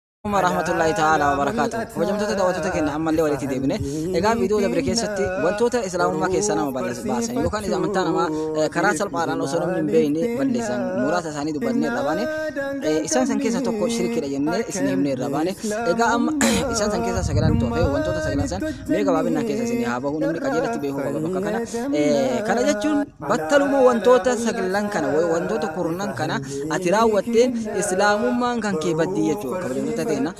Assalamu rahmatullahi ta'ala wa barakatuh. Kabajamtoota daawwattoota keenya ammallee walitti deebine. Egaa viidiyoo dabre keessatti wantoota islaamummaa keessaa nama balleessu baasan yookaan isa amantaa namaa eh, karaa salphaadhaan osoo namni hin beekne balleessan muraasa isaanii dubbannee irra baane. Eh, Isaan san keessaa tokko shirkiidha jennee isin himnee irra baane. Egaa amma isaan san keessaa sagalaan toofe wantoota sagalaan san mee gabaabinaan keessa isin haa bahu namni qajeelatti beekuu qaba bakka kana. Eh, Kana jechuun Battaluma wantoota saglan kana wa- wantoota kurnan kana ati raawwatteen islaamummaan kan kee baddii jechuudha kabajamtoota teena.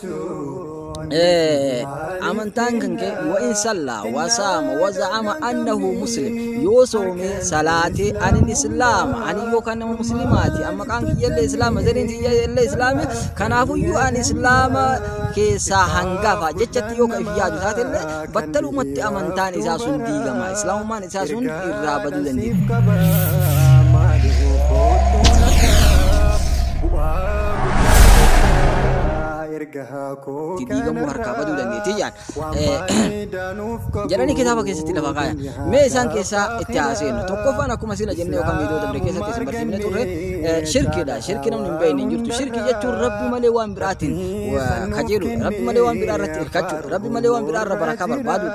Eh, amantaan kan kee wa in sallaa wa saama wa za'ama annahu muslim yoo soomee salaatee anin islaama ani yookaan nama muslimaati amma qaan kiyyallee islaama zariin kiyyallee islaami kanaafuyyuu an islaama keessaa hangafa jechatti yoo ka if yaadu taatellee battalumatti amantaan isaa sun diigama islaamummaan isaa sun irraa baduu dandeenya. itti diigamuu harkaa baduu dandeetti jaan. Jedhanii kitaaba keessatti lafa kaaya. Mee isaan keessaa itti haaseennu. Tokkoffaan akkuma sila jennee yookaan viidiyoo dabre keessatti isin barsiifne turre shirkiidha. Shirki namni hin beekne hin jirtu. Shirki jechuun rabbi malee waan biraatiin kajeelu. Rabbi malee waan biraa irratti hirkachuu. Rabbi malee waan biraa irra barakaa barbaadu.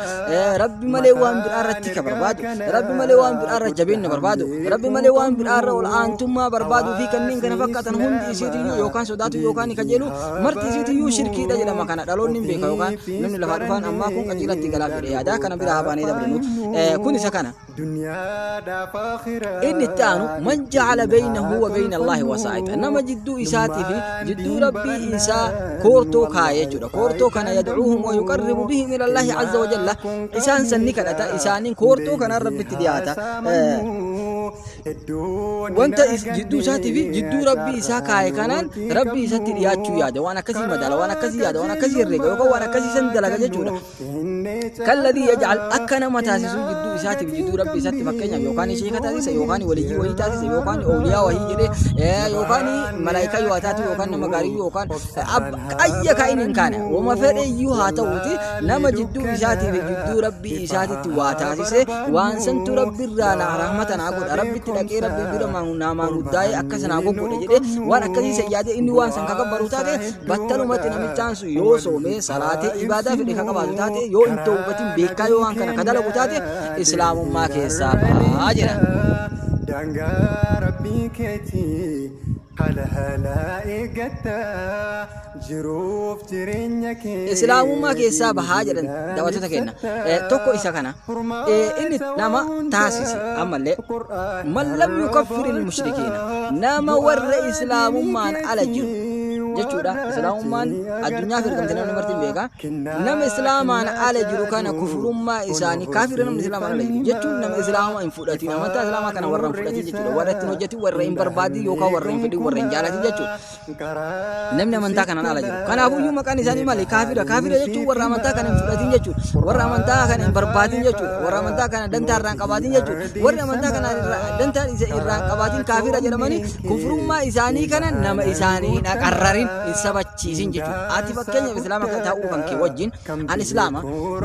Rabbi malee waan biraa irratti ka barbaadu Rabbi malee waan biraa irra jabeenya barbaadu Rabbi malee waan biraa irra ol aantummaa barbaadu fi kanneen kana fakkaatan hundi isiitiyyuu yookaan sodaatu yookaan ni kajeelu marti isiitiyyuu shirkiidha jedhama kana dhaloonni hin beeka yookaan namni lafaa dhufaan ammaa kun qajeelatti galaaf jedhee yaadaa kana biraa habaanee dabrinu kun isa kana. Duniyaadhaaf Aakhiraa Inni itti aanu man itti ja'ala hin beynahu haa wa beyna Allaahi tolfannu wasaa'ixa nama jidduu isaatii fi Numaan jidduu diin rabbii isaa barannu koortoo kaaya Allaah jechuudha qofa koortoo kana isaan yadcuuhum wa yuqarribu tolfannu bihim ila Allaahi azza wa jalla Kennaa kun kan isaan sanni kadhata miidhaa isaaniin koortoo Hundeen kanaan rabbitti haa dhiyaata Eh, saamannu Hedduun hin wanta is- jidduu isaatii fi arganne jidduu rabbii isaa Carraa kaaye kanaan nuti rabbii isatti dhiyaachuu qabnu yaada waan akkasii madaala waan akkasii yaada waan akkasii herreega yookaan waan akkasii san dalaga jechuudha Kalladii yaj'al akka nama taasisuu jidduu isaatiif jidduu rabbi isatti fakkeenyaaf yookaan sheeka taasisa yookaan waliyyii wahii taasisa yookaan awliyaa wahii jedhee yookaan malaayikaa yoo taatu yookaan nama gaarii yookaan ayya kaa'in hin kaane wama fedhe iyyuu haa ta'uuti nama jidduu isaatiif jidduu rabbi isaatitti waa taasise waan santu rabbi irraa naa rahmata naa godha rabbitti dhaqee rabbi dura naamaan guddaa'ee akka sanaa goggodhe jedhee waan akkasii sayyaadee inni waan san kakabbaru taate Battalumatti namichaan sun yoo soomee salaatee ibaadaa fedhe ka qabaatu taate yoo hin tawbatin beekaa yoo waan kana ka dalagu taate islaamummaa keessaa bahaa jedha. Daangaa rabbii keetii halahala eeggatta jiruuf jireenya kee Islaamummaa keessaa bahaa jedhan daawwattoota keenya. Eh, tokko isa kana. inni nama taasise ammallee man lam yukaffiri lmushrikiina nama warra islaamummaan ala jiru jechuudha islaamummaan addunyaaf ergamte namni martiin beeka nama islaamaan ala jiru kana kufurummaa isaanii kaafira namni islaamaan ala jiru jechuun nama islaama hin fudhatin amantaa islaamaa kana warra hin fudhatin jechuudha warra ittiin hojjetin warra hin barbaadin yookaan warra hin fedhin warra hin jaalatin jechuudha Namni amantaa kanaan ala jiru. Kanaafuu iyyuu maqaan isaanii maali? Kaafira. Kaafira jechuun warra amantaa kana hin fudhatin jechuudha. Warra amantaa kana hin barbaadin jechuudha. Warra amantaa kana dantaa irraa hin qabaatin jechuudha. Warri amantaa kana irraa- dantaa isa irraa hin qabaatin kaafira jedhamanii kufrummaa isaanii kana nama isaanii hin aqarrarin hin sabachiisin jechuudha. Ati fakkeenyaaf islaama kan ta'uu kan kee wajjin An Islaama,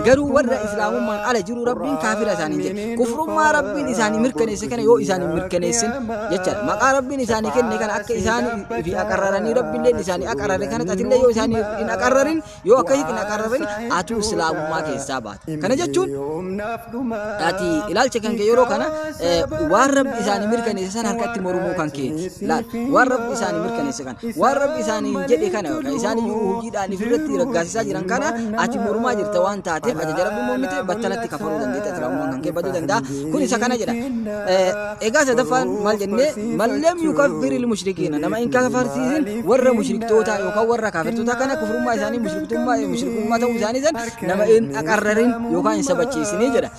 garuu warra Islaamummaan ala jiru Rabbiin kaafira isaaniin jedhe. Kufrummaa Rabbiin isaanii mirkaneesse kana yoo isaan hin mirkaneessin jechaadha. Maqaa Rabbiin isaanii kenne kana akka isaan fi aqarraranii Rabbiilleen isaanii aqarrare kanatti atillee yoo isaan hin aqarrarin yoo akkasitti hin aqarrarin atuu Islaamummaa keessaa baata. Kana jechuun ati ilaalcha kan kee yeroo kana eh, waan Rabbi isaanii mirkaneesse san harkatti mormuu kan kee laal. Waan Rabbi isaanii mirkaneesse kana. Waan Rabbi isaaniin jedhe kana yookaan isaan iyyuu hujiidhaan ifirratti raggaasisaa jiran kana ati mormaa jirta waan taateef ajaja Rabbi mormite battalatti kafaruu dandeetta islaamummaan kan kee baduu danda'a. Kun isa kana jedha. Eh, Egaa sadaffaan maal jennee mallam yukaffiril mushrikiina nama hin kafarsiisin warra mushriktootaa yookaan warra kaafirtootaa kana kufrummaa isaanii mushriktummaa mushrikummaa ta'uu isaanii san nama hin aqarrarin yookaan hin sabachiisinii jedha.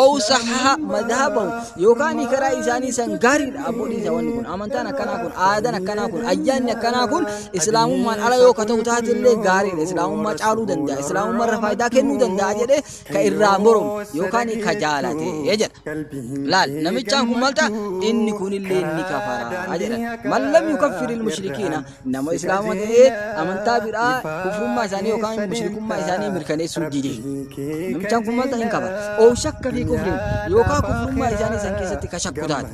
Oowu sahaha madhabahu yookaan karaa isaanii san gaariidha abbootiin isaa wanni kun amantaan akkanaa kun aadaan akkanaa kun ayyaanni akkanaa kun islaamummaan ala yoo ka ta'u taate illee gaariidha islaamummaa caaluu danda'a islaamummaa irra faayidaa kennuu danda'a jedhee ka irraa moromu yookaan ka jaalate jedha. Laal namichaan kun maal ta'a inni kun illee ni kafara jedha. Man lam yukaffir ilmushrikiina Nama Islaama ta'ee amantaa biraa kufrummaa isaanii yookaan mushrikummaa isaanii mirkaneessuu dide. Namichaan kun maal ta'in qaba? Ow shakka fi kufriin yookaan kufrummaa isaanii san keessatti ka shakku taate.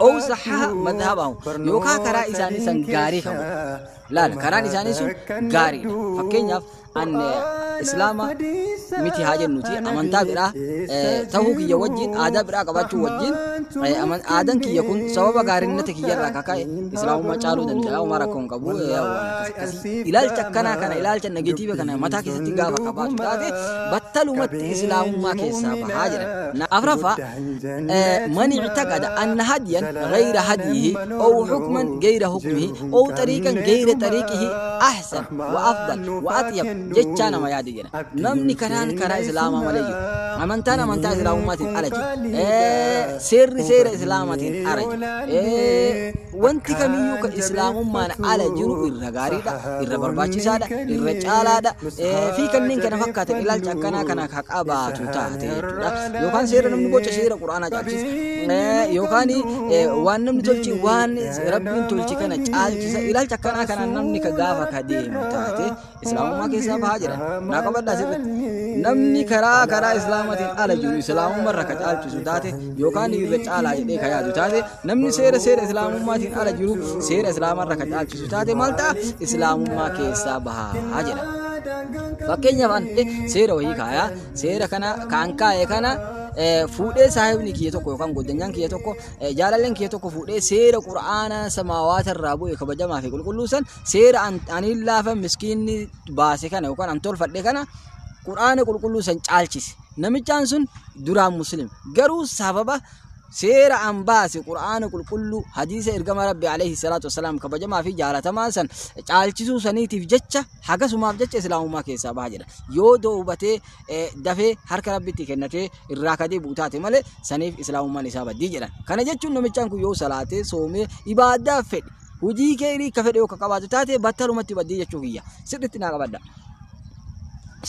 Ow sahaha madhabahu yookaan karaa isaanii san gaarii kan godhe. Laala karaan isaanii sun gaariidha. Fakkeenyaaf an islaama miti haa jennuti amantaa biraa ta'uu kiyya wajjin aadaa biraa qabaachuu wajjin aadaan kiyya kun sababa gaarinnata kiyya irraa kaka'e islaamummaa caaluu danda'a waan rakkoo hin qabu ilaalcha akkanaa kana ilaalcha negatiiva kana mataa keessatti gaafa qabaatu taate battalumatti islaamummaa keessaa bahaa jedhan afraffaa man ictaqada anna hadiyan gayra hadiyihi ow hukman gayra hukmihi ow xariiqan gayra xariiqihi ahsan wa afdal, wa atyab, jechaa nama yaadi jedhan. Namni karaan karaa Islaamaa malee jiru, amantaan amantaa Islaamummaatiin ala jiru, seerri seera Islaamaatiin ala jiru, wanti kamiyyuu ka Islaamummaan ala jiru irra gaariidha, irra barbaachisaadha, irra caalaadha, fi kanneen kana fakkaatan ilaalcha akkanaa kana ka qabaatu taate jechuudha. cabse yookaan seera namni gocha seera quraanaa caalchisa yookaan waan namni tolchi waan rabbiin tolchi kana caalchisa ilaalcha akkanaa kanaan namni ka gaafa ka deemu taate islaamummaa keessaa bahaa jira naa qabadhaa sirritti namni karaa karaa islaamatiin ala jiru islaamummaa irra ka caalchisu taate yookaan irra caalaa jedhee ka yaadu taate namni seera seera islaamummaatiin ala jiru seera islaamaa irra ka caalchisu taate maal ta'a islaamummaa keessaa bahaa jedha. Fakkeenyaaf an seera wayii kaayaa seera kana kan kaa'e kana eh, fuudhee saahibni kiyya tokko yookaan godanyaan kiyya tokko eh, jaalalleen kiyya tokko fuudhee seera qura'aana samaawaata irraa bu'e kabajamaa fi qulqulluu san seera an- ani laafa miskiinni baase kana yookaan an tolfadhe kana qura'aana qulqulluu san caalchise namichaan sun duraan muslim garuu sababa seera an baase qur'aana qulqulluu hadiisa ergama rabbi alayhi salaatu wasalaam kabajamaa fi jaalatamaa san caalchisuu saniitiif jecha hagasumaaf jecha islaamummaa keessaa baha jedha yoo doobatee eh, dafee harka rabbitti kennatee irraa kadee buutaate malee saniif islaamummaan isaa baddii jedhan kana jechuun namichaan kun yoo salaatee soomee ibaadaa fedhe hujii keerii ka fedhe yoo ka qabaatu taate battalumatti baddii jechuu kiyya sirritti naa qabadda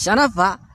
shanaffaa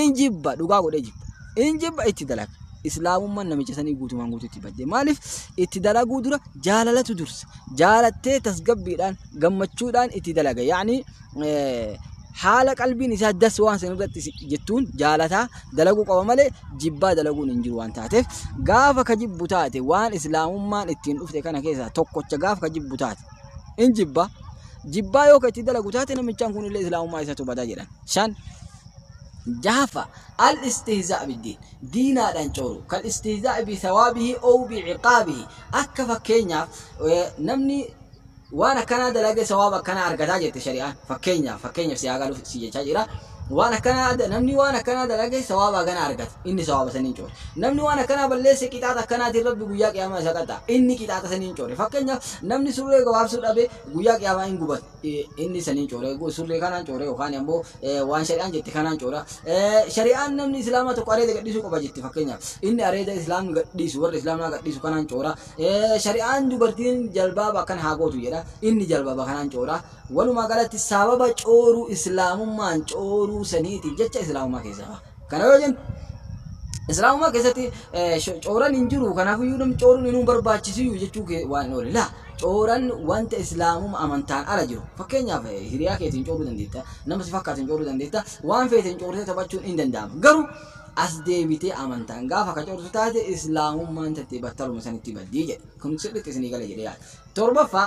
in jibba dhugaa godhee jibba in jibba itti dalaga islaamummaan namicha sanii guutumaan guututti badde maaliif itti dalaguu dura jaalalatu dursa jaalattee tasgabbiidhaan gammachuudhaan itti dalaga yaani haala qalbiin isaa das waan san irratti si- jettuun jaalataa dalaguu qaba malee jibbaa dalaguun hin jiru waan taateef gaafa ka jibbu taate waan islaamummaan ittiin dhufte kana keessaa tokkocha gaafa ka jibbu taate in jibba jibbaa yoo ka itti dalagu taate namichaan kun illee islaamummaa isatu badaa jedhan shan jahafa al istihzaa biddiin diinaadhaan cooru kal istihzaa bi thawaabihi ow bi ciqaabihi akka fakkeenyaaf namni waan akkanaa dalage sawaaba akkanaa argataa jette shari'aan fakkeenyaaf fakkeenyaaf si haa galuuf si jechaa jira waan akkanaa namni waan akkanaa dalage sawaaba akkanaa argata inni sawaaba saniin coore namni waan akkanaa balleesse qixaaxa akkanaatiin rabbi guyyaa qiyaamaa isa qaxa inni qixaaxa saniin coore fakkeenyaaf namni surree gabaabsuu dhabe guyyaa qiyaamaa hin gubata inni saniin coore surree kanaan coore yookaan ammoo waan shari'aan jette kanaan coora shari'aan namni islaamaa tokko areeda gadhiisuu qaba jette fakkeenyaaf inni areeda islaamni gadhiisu warra islaamaa gadhiisu kanaan coora shari'aan dubartiin jalbaaba akkan haa gootu jedha inni jalbaaba kanaan coora walumaa galatti sababa cooruu islaamummaan cooruu saniitiif jecha islaamummaa keessaa Kana yoo jennu Islaamummaa keessatti cooran hin jiru kanaafiyyuu namni cooruun inuu barbaachisiyyuu jechuu kee waan hin oole. Laa cooran wanta Islaamummaa amantaan ala jiru. Fakkeenyaaf hiriyaa keetiin cooruu dandeetta, nama si fakkaatu hin cooruu dandeetta, waan feeteen coortee taphachuun hin danda'ama. Garuu as deebitee amantaan gaafa ka coortu taate Islaamummaan tattee battaluma sanitti baddii jedhe. Kun sirriitti isinii gale jedhee yaada. Torbaffaa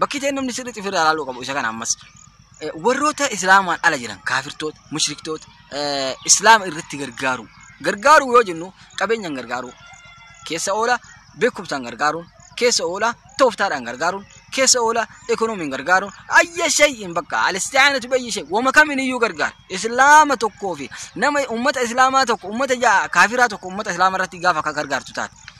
Bakki ta'e namni sirriitti ofirraa ilaaluu qabu isa kana ammas. Eh, Warroota Islaamaan ala jiran kaafirtoota, mushriktoota, eh, Islaama irratti gargaaru. Gargaaru yoo jennu qabeenyaan gargaaru. Keessa oola beekumsaan gargaaruun, keessa oola tooftaadhaan gargaaruun, keessa oola ekonomiin gargaaruun, ayya shay'in bakka alistiyaanatu bayyi shay wama kamiin iyyuu gargaara. Islaama tokkoo fi nama ummata Islaamaa tokko, ummata ja'a kaafiraa tokko ummata Islaamaa irratti gaafa akka gargaartu taate.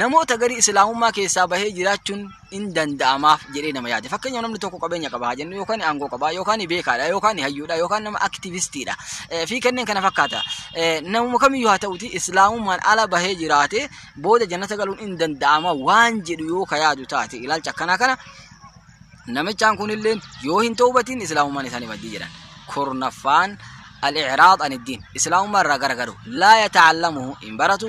namoota garii islaamummaa keessaa bahee jiraachuun in danda'amaaf jedhee nama yaade. Fakkeenyaaf namni tokko qabeenya qaba haa jennu yookaan aangoo qaba yookaan beekaadha yookaan hayyuudha yookaan nama aktivistiidha eh, fi kanneen kana fakkaata. Eh, Namuma kamiyyuu haa ta'uti islaamummaan ala bahee jiraate booda jannata galuun in danda'ama waan jedhu yoo ka yaadu taate ilaalcha akkanaa kana namichaan kunillee yoo hin toobatiin islaamummaan isaanii maddii jedhan. Kurnaffaan al-i'raad an iddiin islaamummaa irraa garagaru laa yata'allamuhu hin baratu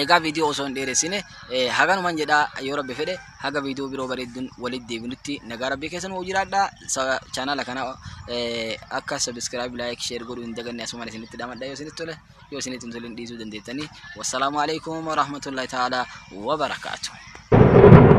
Egaa viidiyoo osoo hin dheeressine haganuman jedha yoo rabbi fedhe haga viidiyoo biroo bareedduun walitti deebinutti nagaa rabbii keessa nu jiraadha. Chaanaala kana akka sabiskiraayib laayik sheer godhuu hin daganne asumaan isinitti dhamadha yoo isinitti tole yoo isinitti hin tole hin dhiisuu dandeettanii. Wassalaamu alaikum warahmatullahi ta'ala wabarakaatuh.